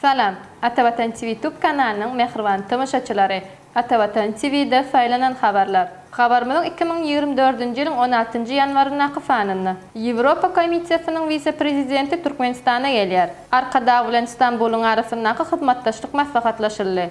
Salam, Atavatan TV tub kanalynyň mähriban tomaşaçylary! Atavatan TV-de saýlanan habarlar. Habarymyzyň iki müň ýigrimi dördünji ýylyň on altynjy ýanwaryndaky sanynda. Ýewropa Komissiýasynyň wise-prezidenti Türkmenistana gelýär. Arkadag bilen Stambulyň arasyndaky hyzmatdaşlyk maslahatlaşyldy.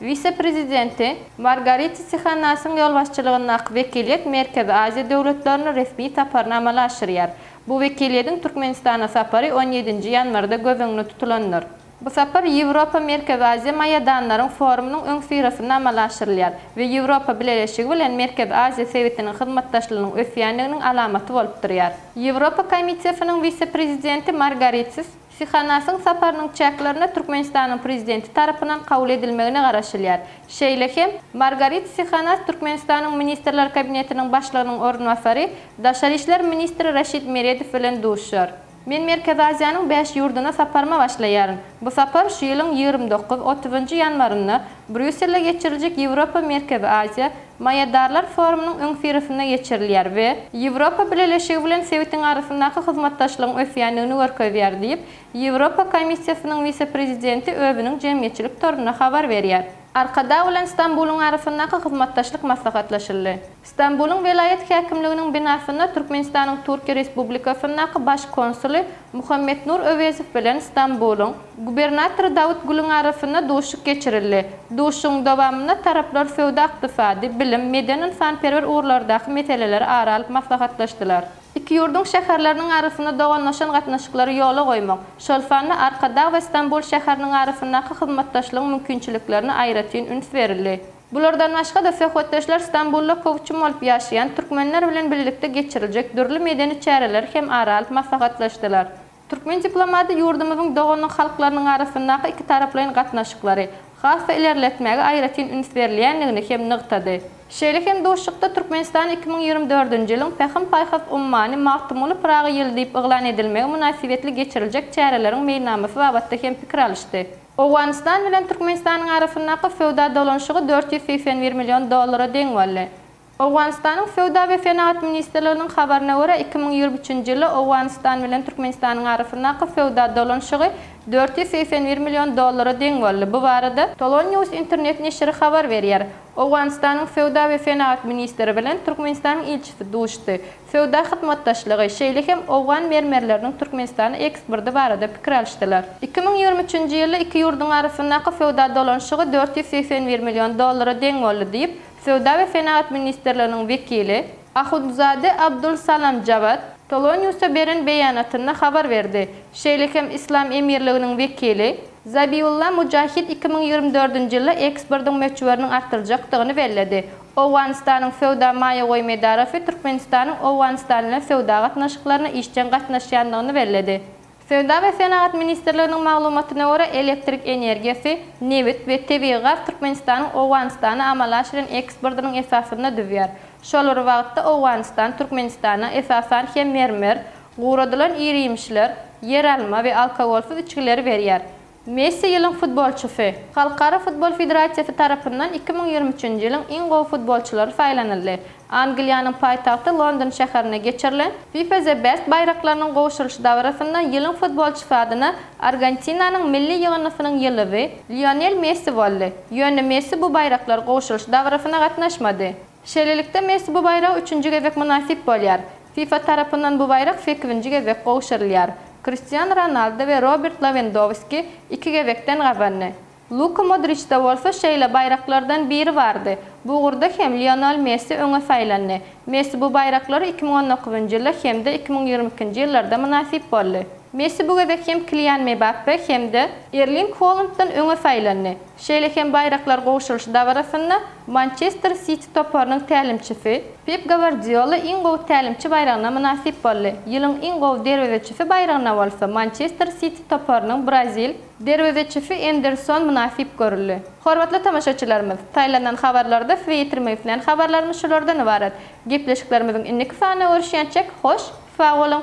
Wise-prezidenti Margarita Sihanasyň ýolbaşçylygyndaky wekiliýet Merkezi Aziýa döwletlerine resmi saparyny amala aşyrýar. Bu wekiliýediň Türkmenistana sapary on ýedinji ýanwarda göz öňünde tutulandyr. Bu sapar Ýewropa-Merkezi Aziýa maýadanlaryň forumynyň öňüsyrasynda amala aşyrylýar we Ýewropa Bileleşigi bilen Merkezi Aziýa sebitiniň hyzmatdaşlygynyň ösýändiginiň alamaty bolup durýar. Ýewropa Komisiýasynyň wise-prezidenti Margaritis Sihanasyň saparynyň çäklerinde Türkmenistanyň Prezidenti tarapyndan kabul edilmegine garaşylýar. Şeýle hem, Margarit Sihanas Türkmenistanyň Ministrler Kabinetiniň Başlygynyň orunbasary, daşary işler ministri Raşid Meredow bilen duşar. Men Merkezi Aziýanyň bäş ýurduna saparyma başlaýaryn. Bu sapar şu ýylyň ýigrimi dokuz, otuzynjy ýanwarynda Brýusselde geçiriljek Ýewropa, Merkezi Aziýa, Maýadarlar forumynyň öňüsyrasynda geçirilýär we Ýewropa Bileleşigi bilen sebitiň arasyndaky hyzmatdaşlygyň ösýändigini görkezýär diýip, Ýewropa Komissiýasynyň wise-prezidenti özüniň jemgyýetçilik torunda habar berýär. Arkadag bilen Stambulyň arasyndaky hyzmatdaşlyk maslahatlaşyldy. Stambulyň welaýat häkimliginiň binasynda Türkmenistanyň Türkiýe Respublikasyndaky Baş konsuly Muhammetnur Öwezow bilen Stambulyň Gubernatory Dawutgulyň arasynda duşuşyk geçirildi. Duşuşygyň dowamynda taraplar söwda-ykdysady, bilim, medeni-ynsanperwer ugurlardaky meseleleri ara alyp maslahatlaşdylar. Iki ýurduň şäherleriniň arasynda doganlaşan gatnaşyklary ýola goýmak, şol sanda Arkadag we Stambul şäheriniň arasyndaky hyzmatdaşlygyň mümkinçiliklerine aýratyn üns berildi. Bulardan başga-da, söhbetdeşler Stambulda köwçüm bolup ýaşaýan türkmenler bilen birlikde geçiriljek dürli medeni çäreleri hem ara alyp maslahatlaşdylar. Türkmen diplomaty ýurdumyzyň doganlyk halklarynyň arasyndaky ikitaraplaýyn gatnaşyklary has-da ilerletmäge aýratyn üns berilýändigini hem nygtady. Şeýle hem duşuşykda Türkmenistanyň iki müň ýigrimi dördünji ýylyň Pähim-paýhas ummany Magtymguly Pyragy ýyly diýip yglan edilmegi mynasybetli geçiriljek çäreleriň meýilnamasy babatda hem pikir alyşdy. Owganystan bilen Türkmenistanyň arasyndaky söwda dolanyşygy dört ýüz segsen bir million dollara deň boldy. Owganystanyň Söwda we senagat ministrliginiň habaryna görä, iki müň ýigrimi üçünji ýylda Owganystan bilen Türkmenistanyň arasyndaky söwda dolanyşygy dört ýüz segsen bir million dollara deň boldy. Bu barada. Tolonyus internet neşiri habar berýär. Owganystanyň Söwda we senagat ministri bilen Türkmenistanyň ilçisi duşdy. Söwda hyzmatdaşlygy, şeýle hem owgan mermerleriniň Türkmenistana eksporty barada pikir alyşdylar. Iki müň ýigrimi üçünji ýylda iki ýurduň arasyndaky söwda dolanyşygy dört ýüz segsen bir million dollara deň boldy diýip, Söwda we senagat ministrliginiň wekili, Ahundzade Abdul Salam Jawad Toloniusa beren beýanatynda habar berdi. Şeýle hem Yslam Emirliginiň wekili, Zabiulla Mujahid iki müň ýigrimi dördünji ýylda eksportyň möçberiniň artdyrjakdygyny belledi. Owganystanyň Söwda maýa goýum edarasy Türkmenistanyň Owganystan bilen söwda gatnaşyklaryna işjeň gatnaşýandygyny belledi. Söwda we senagat ministrliginiň maglumatyna görä, elektrik energiýasy, nebit we tebigy gaz Türkmenistanyň Owganystana amala aşyran eksportynyň esasyny düzýär. Şol bir wagtda, Owganystan Türkmenistana, esasan hem, mermer, guradylan iri-ýemişler, ýeralma we alkogolsyz içgileri berýär. Messi ýylyň futbolçysy. Halkara futbol federasiýasy tarapyndan iki müň ýigrimi üçünji ýylyň iň gowy futbolçylary saýlanyldy. Angliýanyň paýtagty London şäherinde geçirilen FIFA The Best baýraklarynyň gowşurylyş dabarasynda ýylyň futbolçysy adyna Argentinanyň milli ýygyndysynyň ýyldyzy Lionel Messi boldy. Ýöne Messi bu baýraklar gowşurylyş dabarasyna gatnaşmady. Şeýlelikde, Messi bu baýraga üçünji gezek mynasyp bolýar. FIFA tarapyndan bu baýrak sekizinji gezek gowşurylýar. Kristiano Ronaldo we Robert Lewendowski iki gezekden gazandy. Luka Modriçde bolsa şeýle baýraklardan biri bardy. Bu ugurda hem Lionel Messi öňe saýlandy. Messi bu baýraklary iki müň on dokuzynjy ýylda hem-de iki müň ýigrimi ikinji ýyllarda mynasyp boldy. Messi bu gezek hem Kilian Mebappe hem-de Erling Holanddan öňe saýlandy. Şeýle hem baýraklar gowşurylyş dabarasynda Mançester Siti toparynyň tälimçisi Pep Gawardiola iň gowy tälimçi baýragyna mynasyp boldy, ýylyň iň gowy derwezeçisi baýragyna bolsa Mançester Siti toparynyň brazil derwezeçisi Enderson mynasyp görüldi. Hormatly tomaşaçylarymyz, saýlanan habarlarda size ýetirmek islän habarlarymyz şulardan ybarat. Gepleşiklerimiziň indiki sanyna görüşýänçek, hoş, sag boluň!